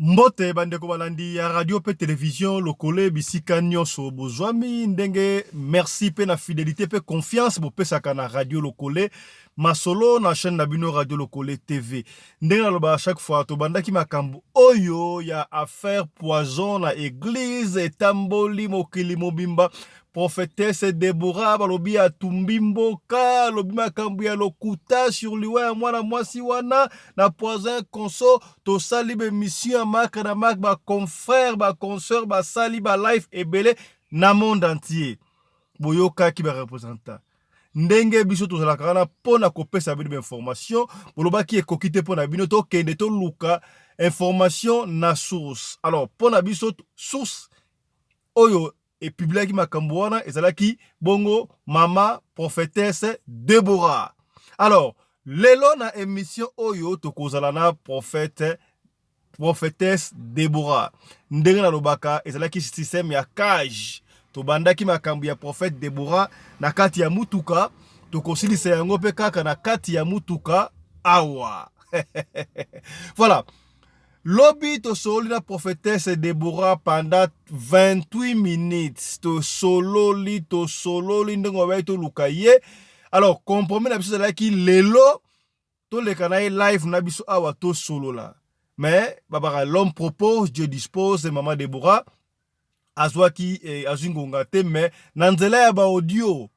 Mbote bandeko balandi ya radio pe television lokole bisika nionso bozwami ndenge merci pe na fidelite pe confiance bopesaka na radio lokole masolo na chaîne na bino radio lokole tv ndenge nalobaka chaque fois tobandaki makambo oyo ya affaire poison na eglise etamboli mokili mobimba Prophetesse Deborah balobi atumbi mboka, alobi makambo ya lokuta sur liwa ya mwana mwasi wana na poison ya conso. Tosali ba emission ya mark na mark, ba confrères ba consoeurs basali ba live ebele na monde entier. Boyokaki ba representants ndenge biso tozalaka wana mpo na kopesa bino bainformation bolobaki ekoki te mpo na bino tokende toluka information na source alors mpo na biso source oyo e publiaki makambo wana ezalaki bongo mama prophetesse Deborah alors lelo na emission oyo tokozala na prophète prophetesse Deborah ndenge nalobaka ezalaki système ya cage tobandaki makambo ya prophète Deborah na kati ya mutuka tokosilisa yango pe kaka na kati ya mutuka awa voilà lobi tosololi na prophetesse debora pendant 28 minutes tosololi tosololi ndenge wabaki toluka ye alors compromis na biso ezalaki lelo toleka na ye live na biso awa tosolola mais babaka l'homme propose dieu dispose mama debora azwaki eh, azwi ngonga te me na nzela ya baaudio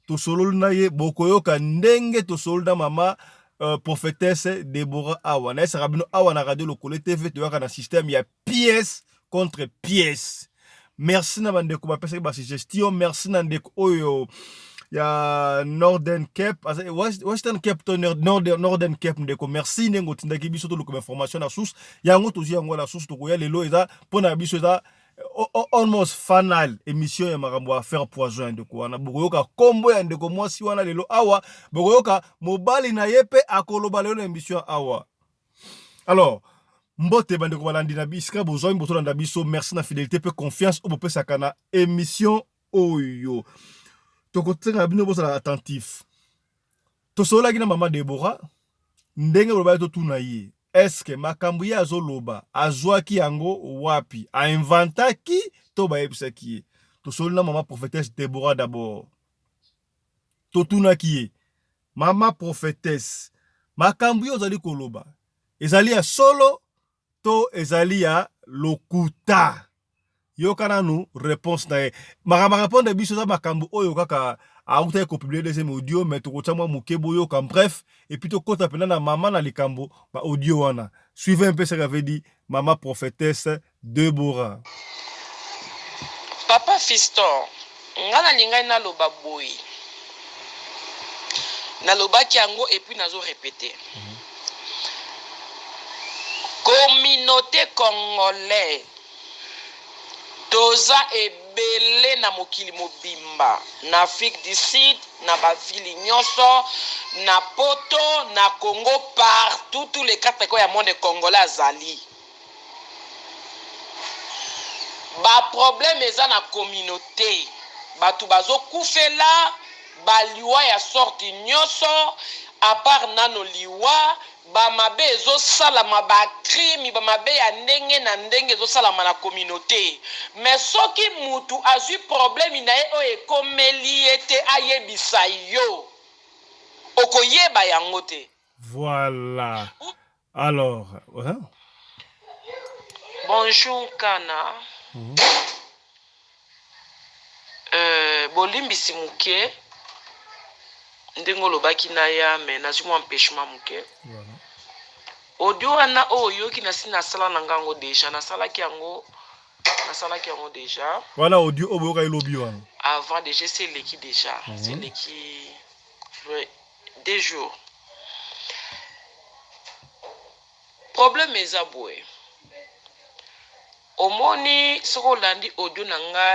tosololi na ye bokoyoka ndenge tosololi na mama uh, prophetesse debora awa nayesaka bino awa na radio lokole tv toyaka na systeme ya pièce contre pièce merci na bandeko bapesaki basuggestion merci na ndeko oyo ya northern cape western cape to northern cape ndeko merci ndenge otindaki biso toluka bainformation na source yango tozwi yango na source tokoya lelo eza mpo na biso eza almost fanal émission ya makambo ya faire poison ya ndeko wana bokoyoka kombo ya ndeko mwasi wana lelo awa bokoyoka mobali na ye mpe akoloba lelo na émission awa alors mbote bandeko balandi na bisika bozwami botolanda biso merci na fidélité mpe confiance oyo bopesaka na émission oyo tokosenga bino bozala attentif Tosololaki na mama Deborah ndenge bolobaki totuna ye eske makambo ye azoloba azwaki yango wapi, a inventaki to bayebisaki ye. Tosololi na mama prophetesse Deborah d'abord, totunaki ye mama prophetesse, makambo yo ozali koloba ezali ya solo to ezali ya lokuta yoka nanu reponse na ye makambo arepondre biso eza makambo oyo kaka autaki kopublie deuxième audio me tokotya mwa moke boyoka bref epuis tokota mpena na mama na likambo ba audio wana suive mpe saka avait dit mama prophetesse debora Papa Fiston, Nga nalingaki naloba boye, nalobaki yango et puis nazo repeter, communaute congolais toza ebele na mokili mobimba, na Afrique du Sud, na ba villes nionso, na poto, na Congo, partout, tous les quatre coins ya monde congolais azali. Ba problème eza na communaute batu bazo kufela ba liwa ya sorte nioso apart nano liwa ba mabe ezo salama ba crime ba mabe ya ndenge na ndenge ezo salama na communaute mais soki mutu azui problème naye oyo ekomeli ye te ayebisa yo oko yeba yango te. Voilà Alors, hein? Bonjour Kana. Mm -hmm. euh, bolimbisi moke ndenge olobaki na ya me nazwi mwa empêchement moke voilà. audio wana oyo oh, oyoki nasi nasala na ngango deja nasalaki yango nasalaki yango deja wana audio oyo oh, boyoka elobi wana avant deja esi eleki deja mm -hmm. eleki Deux jours problème eza boye omoni soki olandi audio na nga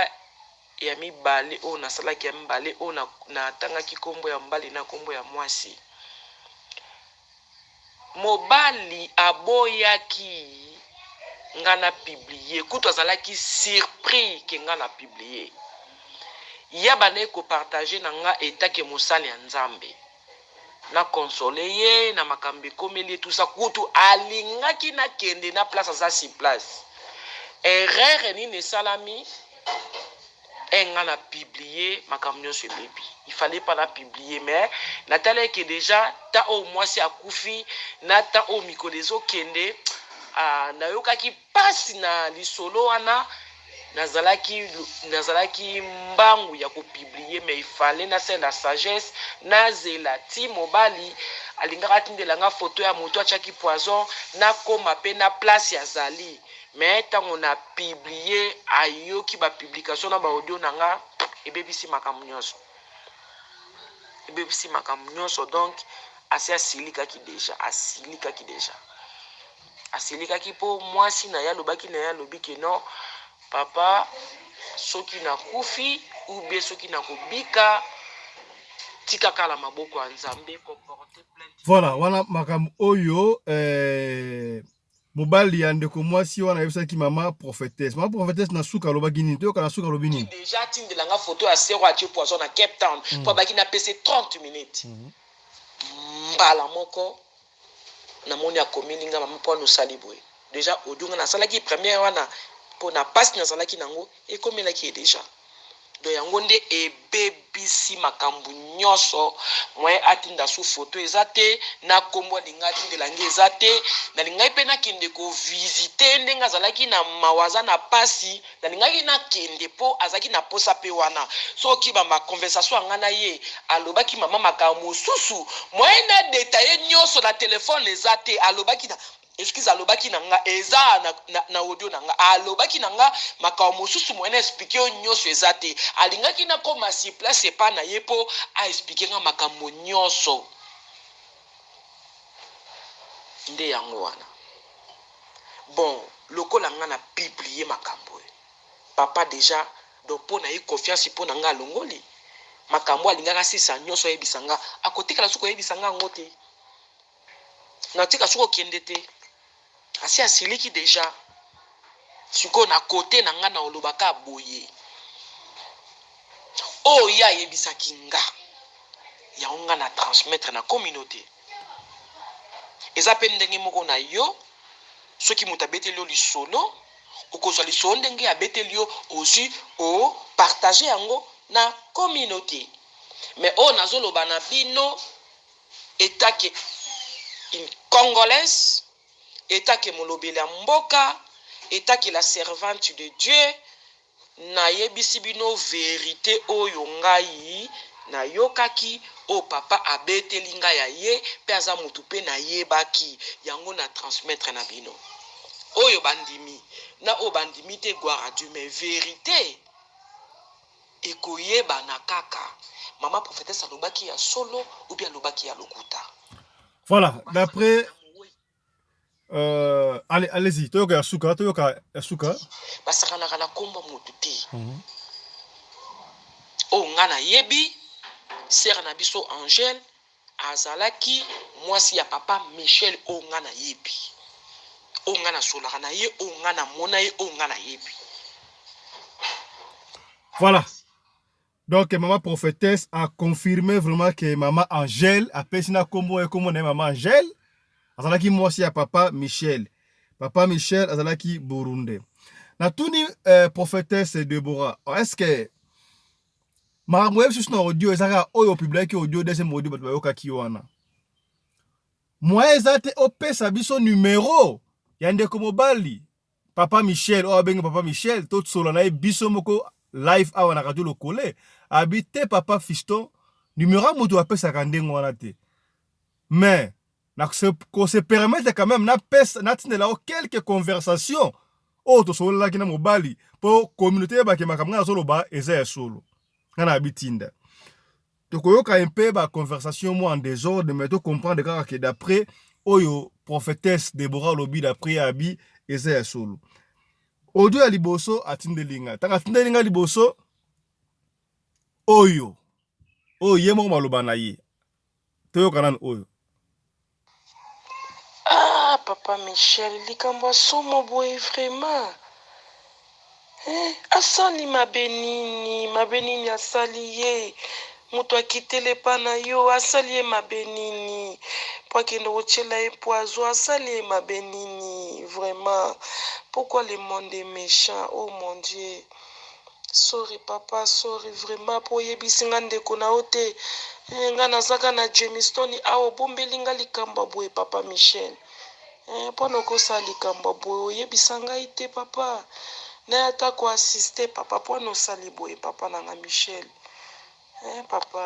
ya mibale oyo nasalaki ya mibale oyo natangaki nkombo ya mobali na nkombo ya mwasi Mobali aboyaki nga na publie kutu azalaki surpris que nga na publie ye abandaki ko partager na nga etant que mosali ya Nzambe na consoler ye na makambo ekomeli ye tout ça kutu alingaki na kende na place aza sur place erreur nini esalami? Ehh nga na publie makambo nionso ebebi il fallait pas na publie mais na tala eke dejà temps oyo muasi akufi na temps oyo mikolo ezo kende ahh na yokaki pasi na lisolo wana na zalaki na zalaki mbangu ya ko publie mais il fallait na sala na sagesse na zela ti mobali alingaki atindela nga photo ya mutu atiaki poison na koma pe na place azali Mais tango na publie ayoki ba publication na ba audio na nga ebebisi makambo nionso ebebisi makambo nionso donc asi asilikaki dejà asilikaki dejà asilikaki po mwasi na ye alobaki na ye alobi ke non papa soki na kufi ou bien soki na kobika tika kala maboko ya Nzambe ko porter plainte Voilà, wana makambo oyo eh, Mobali ya ndeko mwasi wana ayebisaki mama prophetesse. Mama prophetesse na suka alobaki nini? Toyoka na suka alobi nini. Deja atindela nga photo ya sœur oyo atie poison na Cape Town mm. mpo abaki napesa ye 30 minutes mm -hmm. mbala moko namoni akomeli nga mama mpo anosali boye deja audio nga nasalaki première wana mpo na pasi nazalaki nango ekomelaki ye deja Donc yango nde ebebisi makambu nionso moyen atinda su photo eza te na kombo alinga atindela nga eza te nalingaki pe nakende ko visite ndenge azalaki na mawa aza na pasi nalingaki nakende po azalaki na posa pe wana soki ba ma conversation ya nga na ye alobaki mama makambo mosusu moyen na detailler nionso na telephone eza te alobaki na Excuse alobaki na nga eza na, na, na audio na nga alobaki na nga makambo mosusu moyen na explique yo nyonso eza te. Alingaki nakoma sur place epa na ye po a explique nga makambo nyonso. Nde yango wana. Bon, lokola nga na publie makambo oyo, papa deja donc po na ye confiance po na nga alongoli. Makambo oyo alingaki asilisa nyonso ayebisa nga, akotikala susu koyebisa nga yango te. Natika soki okende te asi asiliki deja sikoyo na kote na nga na oloba ka boye oyo oh, ye ayebisaki nga yango nga na transmettre na communauté eza mpe ndenge moko na yo soki moto abeteli yo lisolo okozwa lisolo ndenge abeteli yo ozwi opartage yango na communauté me oyo nazoloba na bino Etant que une congolaise, etant que molobeli ya mboka, etant que la servante de Dieu, na yebisi bino verite oyo ngai na yokaki, oyo papa a beteli ngai ya ye, pe aza mutu pe na yebaki, yango na transmettre na bino. Oyo ba ndimi, na oyo ba ndimi te, gloire à Dieu, mais verite! Ekoyebana kaka maman prophetesse alobaki ya solo ou bien alobaki ya lokuta. Voilà, d'après euh, allez, allez-y, toyoka ya suka, toyoka ya suka. Basakanaka na kombo moto te. Mm -hmm. Oyo nga nayebi, sœur na biso Angèle Azalaki mwasi ya papa Michel oyo nga na yebi, oyo nga na solaka na ye, oyo nga na mona ye, oyo nga na yebi. Voilà. Donc maman prophétesse a confirmé vraiment que maman Angèle apesi na kombo ye kombo na ye maman Angèle azalaki mwasi ya papa Michel. Papa Michel azalaki burundais. Natuni euh, prophétesse Deborah, est-ce que makambo oyebi susu na audio eza kaka oyo opubliaki audio deuxième audio bato bayokaki wana moyen eza te opesa biso numero ya ndeko mobali papa michel oyo abengi papa michel tosola na ye biso moko live awa na radio lokole abi te papa fiston numero ya moto apesaka ndenge wana te mais na ko se permettre quand même na pesa na tindela yo quelques conversations oyo tosololaki na mobali mpo communauté eyebake makambo ngai nazoloba eza ya solo ngai na bitinda tokoyoka mpe ba conversation mwa en desordre mais to comprendre kaka ke d'après oyo prophétesse Deborah alobi d'après abi eza ya solo audio ya liboso atindeli ngai ntango atindeli ngai liboso oyo oyo ye moko maloba na ye toyoka nanu oyo ah papa michel likambo ya somo boye vraiment eh, asali mabe nini mabe nini asali ye moto akitele epa na yo asali ye mabe nini mpo akende kotyela ye poizo asali ye mabe nini vraiment pourkui le monde est méchant oh mon dieu Sorry papa sorry vraiment po oyebisi nga ndeko na yo te eh nga naza ka na Jamestone awa obombeli nga likambo ya boye papa Michel eh pona okosala likambo ya boye oyebisa ngai te papa naye ata ko assiste papa pona osali boye papa na nga Michel eh papa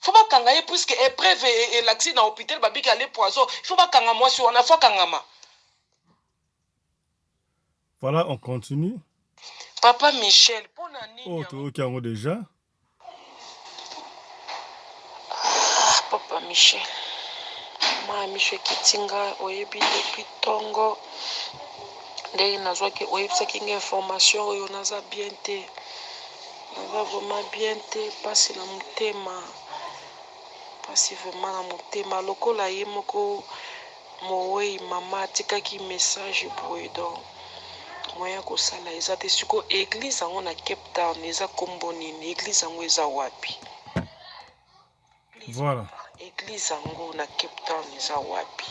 Il faut bakanga ye puisque epreuve elakisi na hopital babiki ale poison il faut bakanga mwasi wana il faut akangama. Voilà on continue. Papa Michel pona nini? Oh toyoki yango déjà. Ah, Papa Michel. Ma Michel Kitinga oyebi depuis tongo ndenge nazwaki oyebisaki nga information oyo naza bien te Eza vraiment bien te pasi na motema pasi vraiment na motema lokola ye moko moweyi mama atikaki message boye donc moyen ya kosala eza te siko eglise yango na cape town eza kombo nini eglise yango eza wapi voilà eglise yango na cape town eza wapi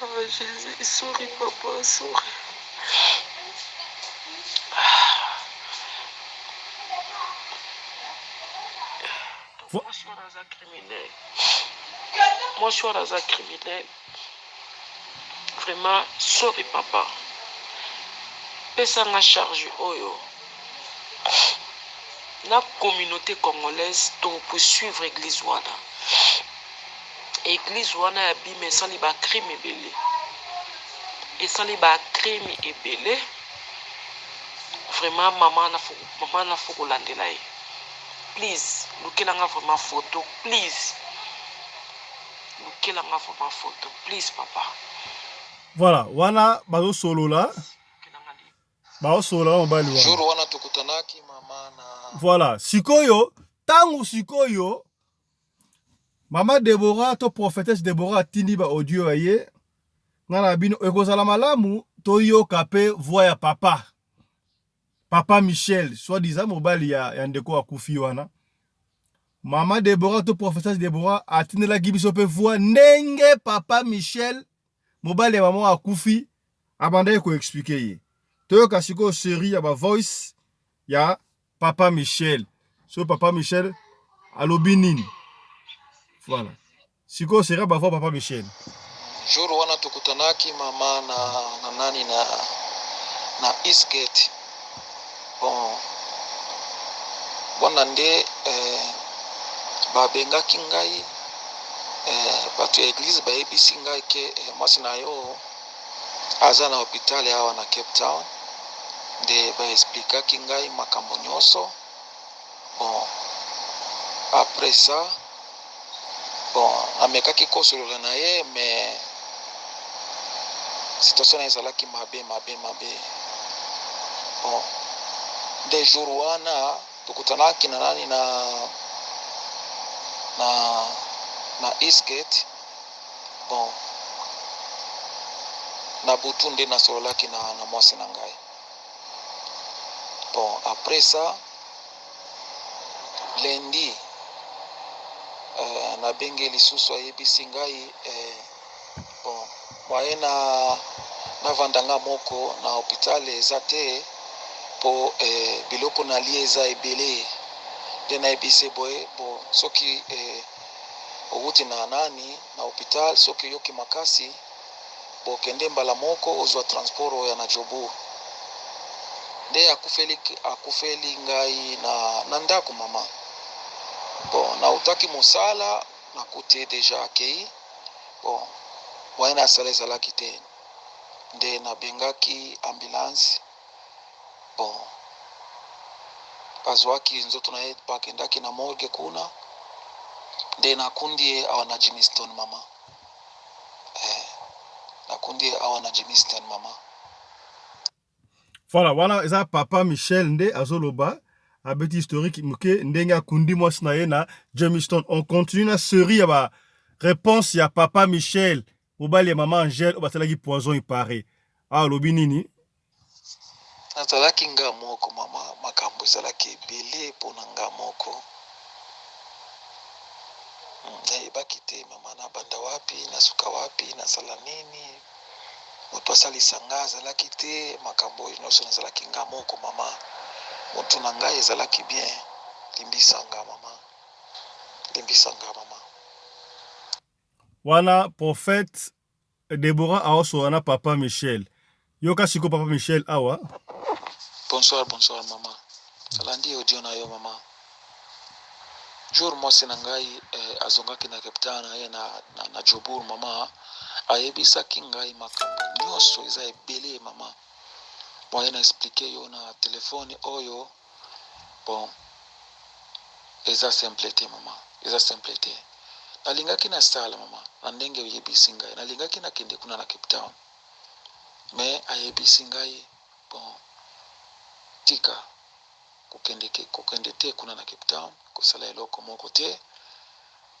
Oh Jesus souris papa souris. Moshour aza criminel. Moshour aza criminel. Vraiment sorry papa. Pesanga charge oyo. La communauté congolaise to poursuivre église wana. Eglise wana ya bima esali ba crime ebele esali ba crime ebele vraiment mama mama na foko landela ye please lukela nga vraiment photo please lukela nga vraiment photo please papa voilà wana bazosolola baosolola mobali wana jour wana tokutanaki mama na voilà sikoyo tangu sikoyo Maman Deborah to prophetesse Deborah atindi ba audio ya ye nga na bino ekozala malamu toyoka pe voix ya papa papa Michel soit disant mobali ya, ya ndeko akufi wana Mama Deborah to professeur Deborah atindelaki biso pe voix ndenge papa Michel mobali ya mama akufi abandaki ko expliquer ye toyoka sikoyo série ya ba voice ya papa Michel soki papa Michel alobi nini voilà sikoyo sera bavua papa Michel jour wana tokutanaki mama na, na nani na, na Eastgate bon wana nde eh, babengaki ngai eh, bato ya eglize bayebisi ngai ke eh, mwasi na yo Aza na hopital awa na Cape Town nde ba explikaki ngai makambo nyonso. Bon, après ça, bon, namekaki kosolola na ye mais situation na ezalaki mabe mabe mabe. Bon, nde jour wana tokutanaki na nani na na na Eastgate Bon, na butu nde nasololaki na, na mwasi na ngai. Bon, après ça, lundi, euh, nabengi lisusu ayebisi ngai eh, bon, moyen na navanda nga moko na hopital eza te po eh, biloko nalie eza ebele nde nayebisi ye boye bo soki eh, owuti na nani na hopital soki oyoki makasi bo kende mbala moko ozua transport oya na jobourg nde akufeli akufeli ngai na na ndaku maman bon na wutaki musala na kuti deja akeyi bon moyen na sala ezalaki te nde na bengaki ambulance Bon, bazuaki nzoto na ye bakendaki na morgue kuna nde nakundi ye awa na Jamestown mama eh, nakundi ye awa na Jamestown mama. Voilà, wana eza papa Michel nde azoloba abeti historique moke ndenge akundi mwasi na ye na Jamestown. On continue na série ya ba réponse ya papa Michel Mobali ya maman Angèle oyo basalaki poison il parait. Awa alobi nini? Nazalaki nga moko maman makambo ezalaki ebele pona nga moko nayebaki te maman nabanda wapi nasuka wapi nasala nini mutu asalisa nga azalaki te makambo oyo nionso nazalaki nga moko maman mutu na ngai ezalaki bien limbisa nga maman limbisa nga maman. Wana prophète Deborah azo solola na papa Michel. Yoka sikoyo papa Michel awa. Bonsoir bonsoir maman nalandi audio na yo maman jour mwasi na ngai eh, azongaki na Cape Town aye na, na, na Jobourg mama ayebisaki ngai makambo nyonso eza ebele mama moye na explike yo na telefone oyo Bon eza simple te maman eza simple te nalingaki na sala maman na ndenge oyebisi ngai nalingaki na kende kuna na Cape Town mais ayebisi ngai bon tika kokende kokende te kuna na Cape Town kosala eloko moko te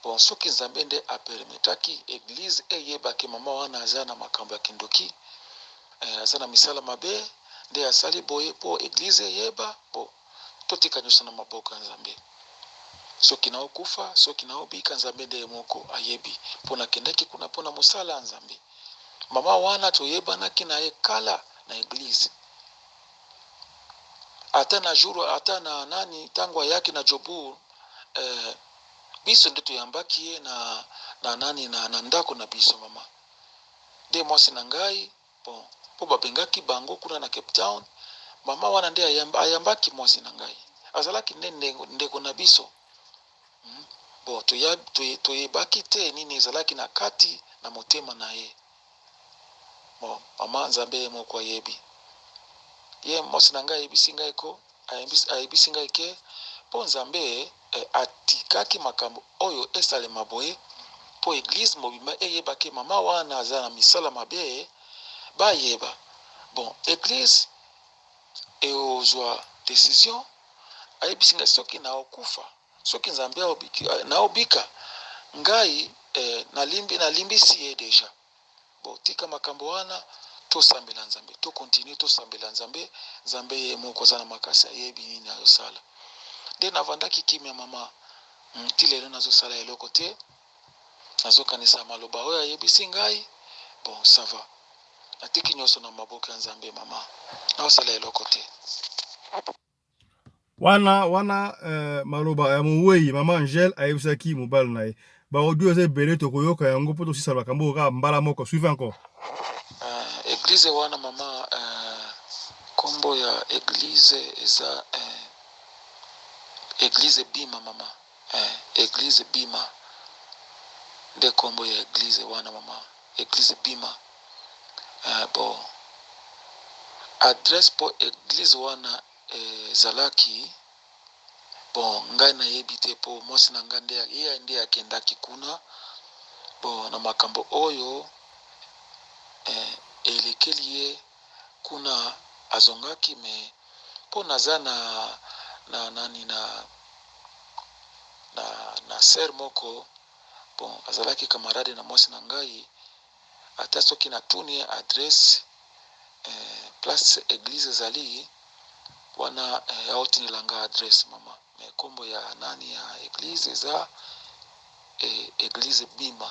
Bon soki nzambe nde a permetaki eglise eyeba ke maman wana aza na makambo ya kindoki eh aza na misala mabe nde asali boye po eglise eyeba bo totika nioso na maboko ya nzambe soki na okufa soki na obika nzambe nde ye moko ayebi po na kendaki kuna po na mosala ya nzambe maman wana toyebanaki na ye kala na eglise ata na jour ata na nani tango ayaki na jobour eh, Biso nde toyambaki ye na na nani na na ndako na biso mama nde mwasi na ngai bon po babengaki bango kuna na cape town mama wana nde ayamba ayambaki mwasi na ngai azalaki nde ndengo ndeko na biso hum bon toya toye toyebaki te nini ezalaki na kati na motema na ye Maman nzambe ye moko ayebi ye mwasi na ngai ayebisi ngai ko ayebisi ngai ke mpo nzambe atikaki makambo oyo esalema boye mpo eglise mobimba eyeba ke mama wana aza na misala mabe bayeba bon eglise eozwa decision ayebisi ngai soki na okufa Soki nzambe aobiki nao bika ngai eh, na limbi na limbisi ye deja bo tika makambo wana tosambela nzambe to continue tosambela nzambe nzambe ye moko aza na makasi ayebi nini ayosala nde navandaki kimia mama hmm, ti lelo nazosala eloko te nazokanisa maloba oyo ayebisi ngai bon sava natiki nyonso na maboko ya nzambe mama naosala eloko te wana wana euh, maloba ya mowei mama angele ayebisaki mobali na ye baaudio eza ebele tokoyoka yango mpo tosisa makambo oyo kaka mbala moko suive encore uh, eglize wana mama uh, kombo ya eglize eza uh, eglize bima mama Eeh eglise bima nde kombo ya eglise wana maman eglise bima eeh bo adresse po eglise wana ezalaki bo ngai na yebi te po mwasi na ngai nde ye nde akendaki kuna bo na makambo oyo eeh elekeli ye Kuna azongaki mais po naza na na nani na na na sœur moko bon azalaki camarade na mwasi na ngai ata soki na tuni ye adresse eh, place eglise ezali wana eh, aotinela nga adresse mama mais kombo ya nani ya eglise eza eh, eglise bima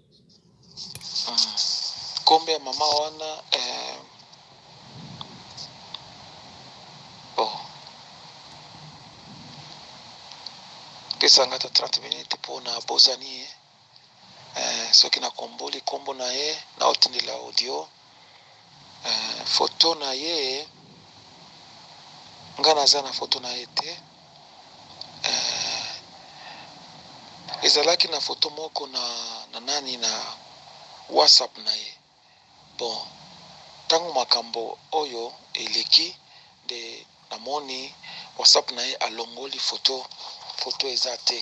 Kombo ya maman wana bon pesa nga ata 30 minutes mpo na bosani ye soki na komboli kombo na ye na otindela audio. Photo naye nga naza na photo naye te ezalaki na photo moko na nani na WhatsApp naye bon tangu makambu oyo eleki nde. Na moni WhatsApp na ye alongoli photo, photo eza te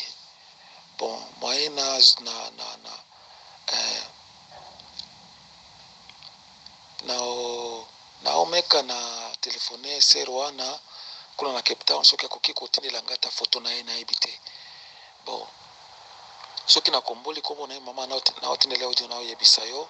bon moyen na na na na eh, na na omeka na telefone sœur wana kuna na Cape Town soki akoki kotindela nga ta photo na ye nayebi te bon soki nakomboli kombo na ye mama naotindela audio naoyebisa yo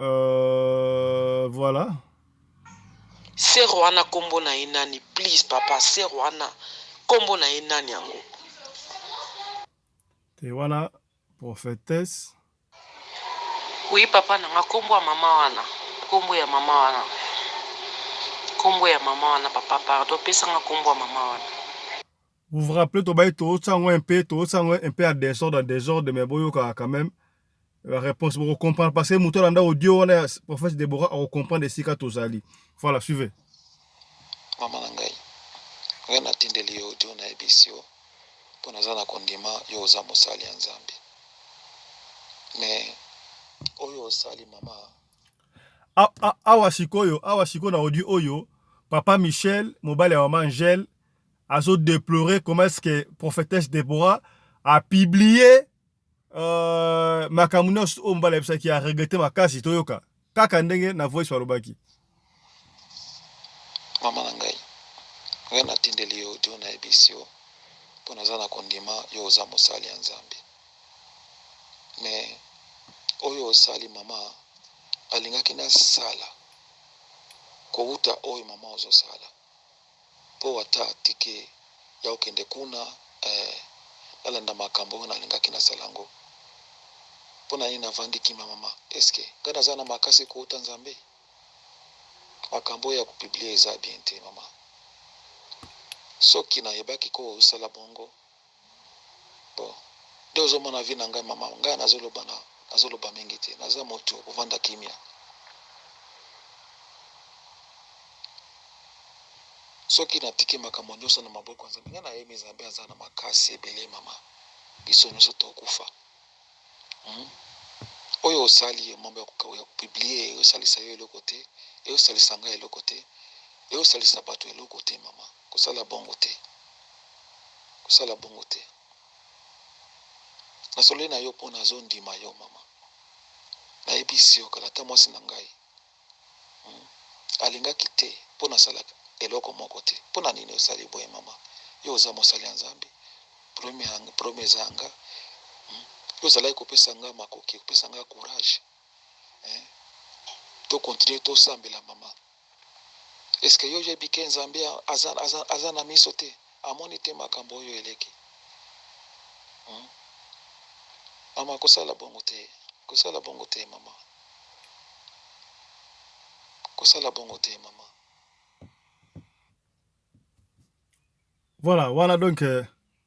Euh, voilà. Sœur wana kombo na ye nani please papa sœur wana kombo na ye nani yango? Te wana prophetesse. Oui papa na nga kombo ya mama wana kombo ya mama wana kombo ya mama wana papa pardon pesa nga kombo ya mama wana. Vous vous rappelez tobaye tootsa yango un peu tootsa yango un peu en desordre en desordre mais boyokaka quand même la réponse boko comprendre parce que moto alanda audio wana ya prophète Deborah ako comprendre esika tozali voilà suivez mama na ngai ngai natindeli yo audio nayebisi yo mpo naza na kondima yo oza mosali ya nzambe mais oyo osali mama awa sikoyo awa sikoyo na audio oyo papa michel mobali ya mama angele azo deplorer comment est-ce que prophetesse Deborah a publié euh, makambo nyonso oyo mbala yebisaki a regrette makasi toyoka kaka ndenge na voice balobaki mama na ngai ngai natindeli yo audio nayebisi yo mpo naza na kondima yo oza mosali ya nzambe me oyo osali mama alingaki nasala kowuta oyo mama ozosala Po ata ticket ya kokende kuna eh Nalanda makambo oyo nalingaki nasala yango Pona nini navandi kimia mama Est-ce que nga naza na makasi kouta Nzambe Makambo oyo ya ko publier eza bien te mama Soki nayebaki ko sala bongo Bon nde ozo mona vie na ngai maman ngai nazo loba na nazo loba mingi te naza mutu ya kovanda kimia soki na tiki makambo nioso na maboko ya nzambe ngai na yemi nzambe aza na makasi ebele maman biso nioso to kufa hmm? oyo osali ye mambo ya ko ya ko publier eyo salisa yo eloko te eyo salisa ngai eloko te eyo salisa batu eloko te maman Kosala bongo te. Kosala bongo te. Nasololi na yo mpo nazondima yo, mama. Nayebisi yo kala ata mwasi na ngai alingaki te mpo nasala eloko moko te. Mpo na nini osali boye, mama? Yo oza mosali ya Nzambe. Probleme eza ya nga. Yo ozalaki kopesa nga makoki, kopesa nga courage to continuer tosambela, mama. Est ce que yo oyebi ke Nzambe aza na miso te? Amoni te makambo oyo eleki? Hum maman kosala bongo te kosala bongo te maman kosala bongo te maman. Voilà wana donc euh,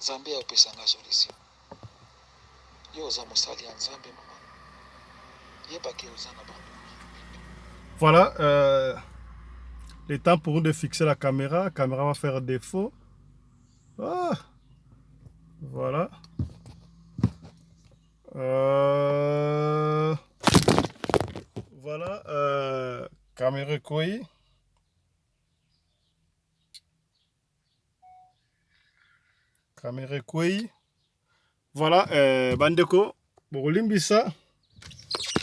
Nzambe ya opesa nga solution. Yo oza mosali ya Nzambe mama. Yeba ke oza na bango. Voilà, euh, le temps pour nous de fixer la caméra. La caméra va faire défaut. Ah, voilà. Euh, voilà, euh, caméra koi. Kamera ekwei. Voilà, eh, bandeko bokolimbisa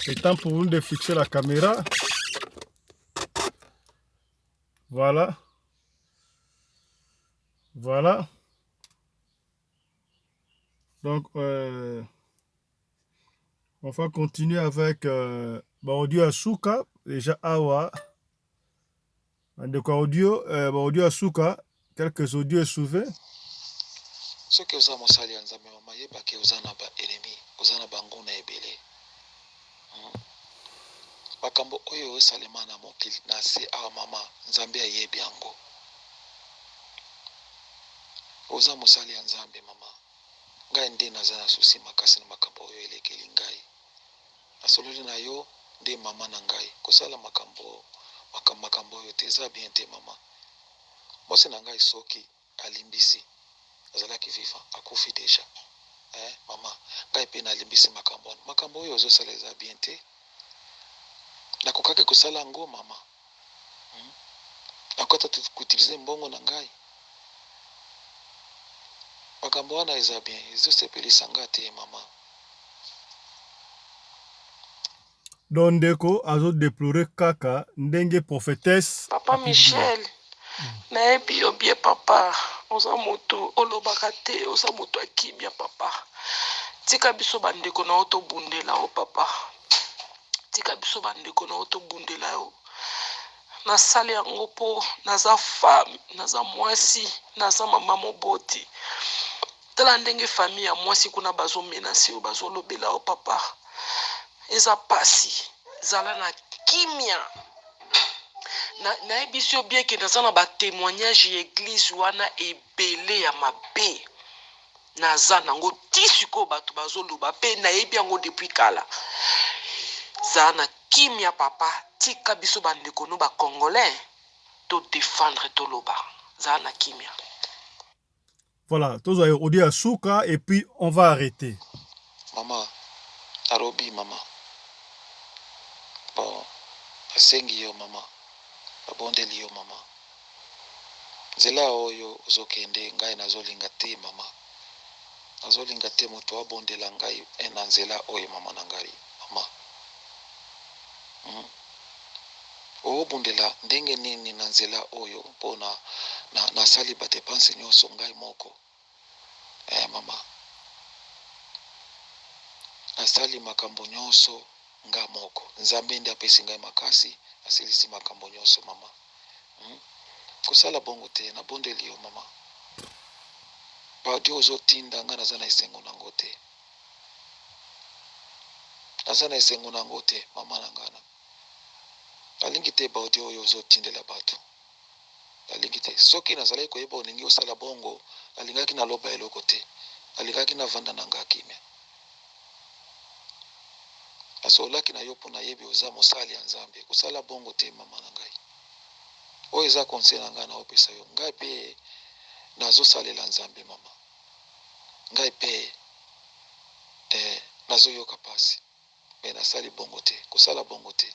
c'est temps pour nous de fixer la caméra voilà voilà donc euh, on va continuer avec euh, baodio ya suka déjà awa Bandeko ya audio, eh, ba audio ya suka, quelques audio esouve. soki oza mosali ya nzambe mama yeba ke oza na ba enemi oza na banguna ebele Hmm. makambo oyo esalema na mokili na se awa mama nzambe ayebi yango oza mosali ya nzambe mama ngai nde naza na susi makasi na makambo oyo elekeli ngai Nasololi na yo nde maman na ngai kosala makambo makambo makambo oyo te eza bien te maman mwasi na ngai soki alimbisi azalaki vivant akufi deja eh maman ngai pe na limbisi makambo wana makambo oyo ozosala eza bien te nakokaki kosala yango maman Nakoki ata te ko utiliser mbongo na ngai? Makambo wana eza bien, ezo sepelisa nga te mama. Donc ndeko azo deplorer kaka ndenge prophetesse Papa apiki ye. Michel, nayebi yo bien papa, oza mutu olobaka te, oza mutu ya kimia papa, tika biso ba ndeko na yo tobundela yo papa. Tika biso ba ndeko na yo to bundela yo. Na sali yango po naza femme, naza mwasi, naza mama moboti. Tala ndenge famille ya mwasi kuna bazo menace yo, bazo lobela yo papa. Eza pasi. Zala na kimia. Na yebisi yo bien que naza na ba temoignage ya eglise wana ebele ya mabe. Naza nango ti sikoyo batu bazo loba pe nayebi yango depuis kala zala na kimia papa tika biso ba ndeko no ba congolais to defendre toloba zala na kimia. Voilà, tozwa audio ya suka et puis on va arreter. Maman alobi maman bon basengi yo maman babondeli yo maman nzela oyo ozo kende ngai nazo linga te maman nazo linga te mutu abondela ngai eh na nzela oyo maman na ngai maman hum obundela ndenge nini na nzela oyo pona na sali ba depense nioso ngai moko. Ee, mama. Nasali makambo nyonso ngai moko. Nzambe nde apesi ngai makasi. Nasilisi makambo nyonso, mama. Hmm? Kosala bongo te. Nabondeli yo, mama. Baaudio ozotinda ngai naza na esengo na yango te. Naza na esengo na yango te, mama na ngai. Nalingi te baaudio oyo ozotindela bato. Nalingi te. Soki nazalaki koyeba olingi osala bongo, nalingaki naloba eloko te. Nalingaki navanda na nga kimia. Nasololaki na yo mpo nayebi oza mosali ya Nzambe. Kosala bongo te, mama na ngai. Oyo eza conseil na ngai naopesa yo. Ngai pe nazosalela Nzambe, mama. Ngai pe, ee, nazoyoka pasi. Mais nasali bongo te, kosala bongo te.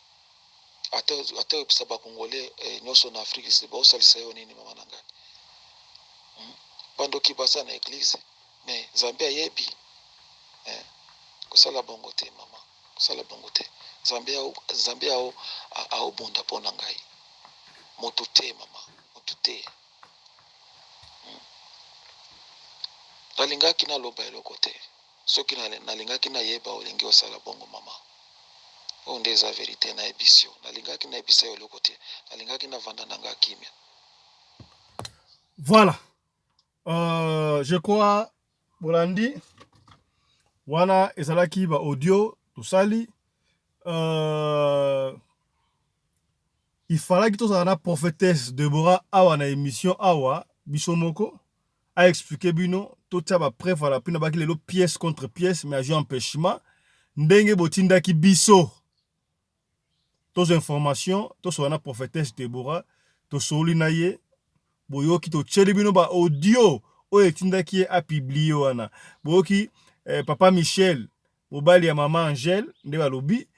Ata ata oyebisa ba congolais nioso na Afrique du Sud bakosalisa yo nini mama na ngai? Hum? Ba ndoki baza na eglise mais Nzambe ayebi eh? Kosala bongo te mama, kosala bongo te. Nzambe ao, Nzambe ao, aobunda mpo na ngai. Moto te mama, moto te. Hum? Nalingaki naloba eloko te. Soki nalingaki nayeba olingi osala bongo mama. Oyo nde eza verite nayebisi yo. Nalingaki nayebisa yo eloko te. Nalingaki navanda na nga kimia. Voilà. Euh, je crois bolandi wana ezalaki ba audio tosali euh, ifalaki tozala na prophétesse Deborah awa na émission awa biso moko a expliquer bino totia ba preuve à l'appui na baki lelo pièce contre pièce mais ajo empêchement ndenge botindaki biso tozo information tosola na prophétesse Deborah tosoli na ye boyoki totieli bino ba audio oyo etindaki ye a publie wana boyoki eh, papa Michel mobali ya mama Angèle nde balobi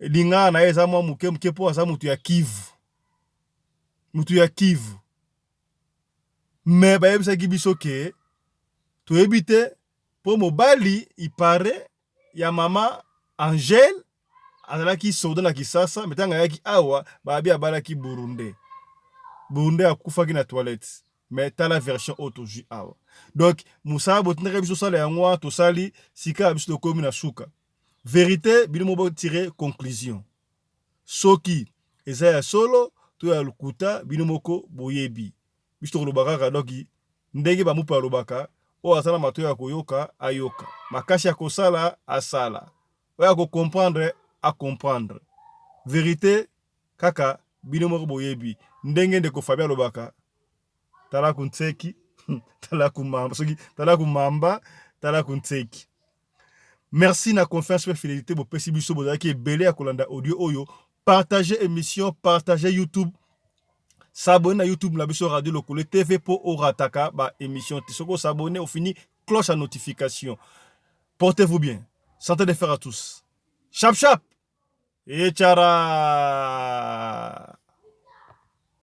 lingala na ye eza mwa moke moke mpo aza moto ya Kivu moto ya Kivu mais bayebisaki biso ke toyebi te po mobali il parait ya mama Angèle azalaki soldat na Kisasa mais tango ayaki awa babi abalaki burundais burundais akufaki na toilette mais tala version oyo tozwi awa donc mosala botindaki biso sala yango wana tosali sika biso tokomi na suka verite bino mo botire conclusion soki eza ya solo to ya lokuta bino moko boyebi biso tokoloba kaka donc ndenge ba mupe alobaka oyo aza na matoyi ya koyoka ayoka makasi ya kosala asala oyo ako comprendre a comprendre verite kaka bino moko boyebi ndenge ndeko Fabien alobaka tala kunseki tala kumamba soki tala kumamba tala kunseki Merci na confiance pe fidelite bopesi biso bozalaki ebele ya kolanda audio oyo. Partagez emission, partagez YouTube. S'abonner na YouTube na biso Radio Lokole TV po orataka ba emission te. Soko s'abonner au fini cloche à notification. Portez-vous bien. Santé de fer à tous. Chap chap. Et chara.